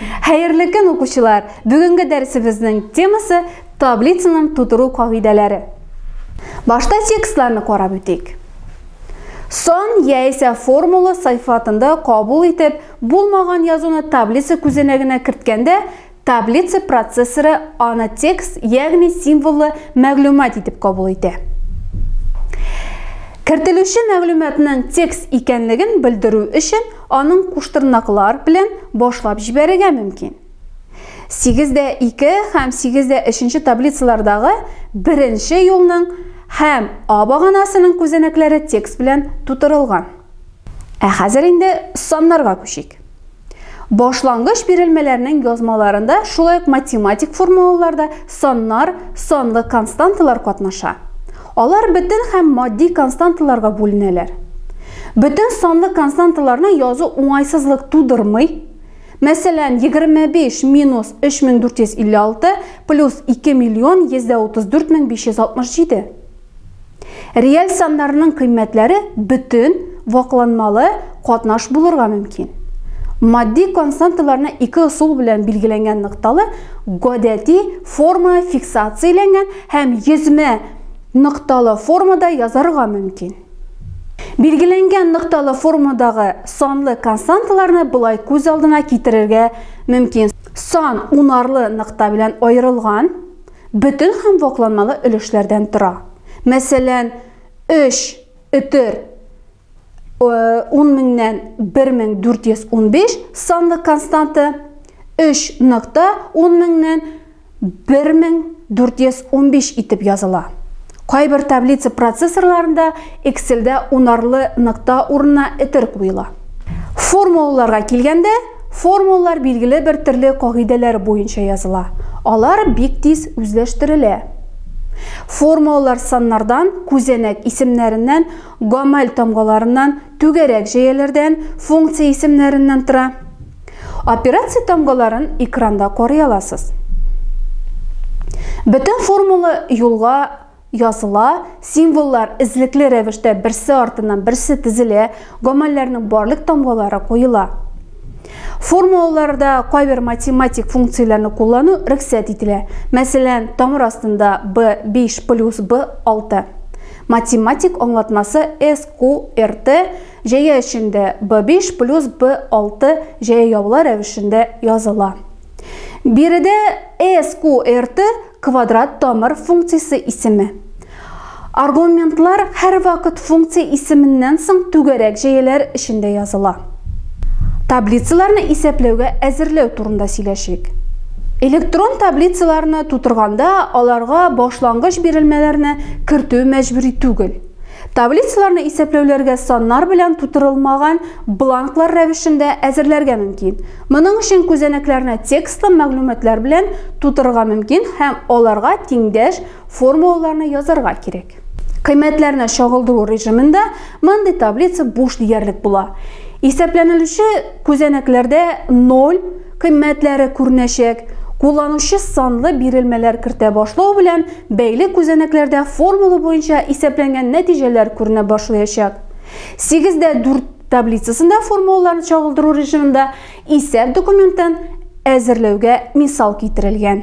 Хәерле көн, укучылар! Бүгенге дәресебезнең темасы таблицаның тутыру кагыйдәләре. Башта текстларны карап үтик. Сон яисә формула сайфатында кабул итеп булмаган язуны таблица күзәнәгенә керткәндә, таблица процессоры аны текст, ягъни символлы мәгълүмат итеп кабул итә. Кертелүче мәгълүматның текст икәнлеген белдерү өчен Аның куштырнаклар белән башлап җибәрергә мөмкин. 8 дә 2 һәм 8 дә 3 таблицалардагы беренче юлның һәм А баганасының күзәнәкләре текст белән тутырылган. Ә хәзер инде саннарга күчик. Башлангыч бирелмәләрнең язмаларында шулай ук математик формулаларда саннар, санлы константалар катнаша. Алар бөтен һәм матди константаларга бүленәләр. Бөтен санлы константаларны язу уңайсызлык тудырмый. Мәсәлән, 25 минус 3456 плюс 2 миллион 134 мең 567. Реаль саннарның кыйммәтләре бөтен, вакланмалы, катнаш булырга мөмкин. Матди константаларны ике ысул белән билгеләнгән нокталы, гадәти, форма фиксацияләнгән Һәм йөзмә нокталы формада язарга мөмкин. Билгеләнгән нокталы формадагы санлы константаларны болай күз алдына китерергә мөмкин. Сан унарлы нокта белән аерылган, бөтен һәм вакланмалы өлешләрдән тора. Мәсәлән, 3 өтер 10 меңнән 1415 санлы константа 3 нокта 10 меңнән 1415 итеп языла. Кайбер таблица процессорларында Excel-дә унарлы нокта урынына этер куела. Формулаларга килгәндә, формулалар билгеле бер төрле кагыйдәләр буенча языла. Алар бик тиз үзләштерелә. Формулалар саннардан, күзәнәк исемнәреннән Гамәл тамгаларыннан, түгәрәк җәяләрдән, функция исемнәреннән тора. Операция тамгаларын экранда карый аласыз. Бөтен формула юлга языла, символлар эзлекле рәвештә берсе артыннан берсе тезелә, гамәлләрнең барлык тамгалары куела. Формулаларда кайбер математик функцияләрне куллану рөхсәт ителә. Мәсәлән, тамыр астында b5 плюс b6. Математик аңлатмасы SQRT җәя эчендә B5 плюс B6 җәя явыла рәвешендә языла. Биредә SQRT квадрат тамыр функциясе исеме. Аргументлар һәрвакыт функция исеменнән соң түгәрәк җәяләр эчендә языла. Таблицаларны исәпләүгә әзерләү турында сөйләшик. Электрон таблицаларны тутырганда аларга башлангыч бирелмәләрне кертү мәҗбүри түгел. Таблицаларны исәпләүләргә саннар белән тутырылмаган бланклар рәвешендә әзерләргә мөмкин. Моның өчен күзәнәкләрне текстлы мәгълүматлар белән тутырырга мөмкин һәм аларга тиңдәш формулаларны язарга кирәк. Кыйммәтләрне чагылдыру режимында мондый таблица буш диярлек була. Исәпләнелүче күзәнәкләрдә 0 кыйммәтләре күренәчәк. Кулланучы санлы бирелмәләр кертә башлау белән бәйле күзәнәкләрдә формула буенча исәпләнгән нәтиҗәләр күренә башлаячак. 8 дә 4 таблицасында формулаларны чагылдыру режимында Исәп документын әзерләүгә мисал китерелгән.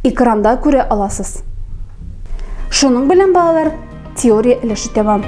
Экранда күрә аласыз. Шуның белән балалар теория өлеше тәмам.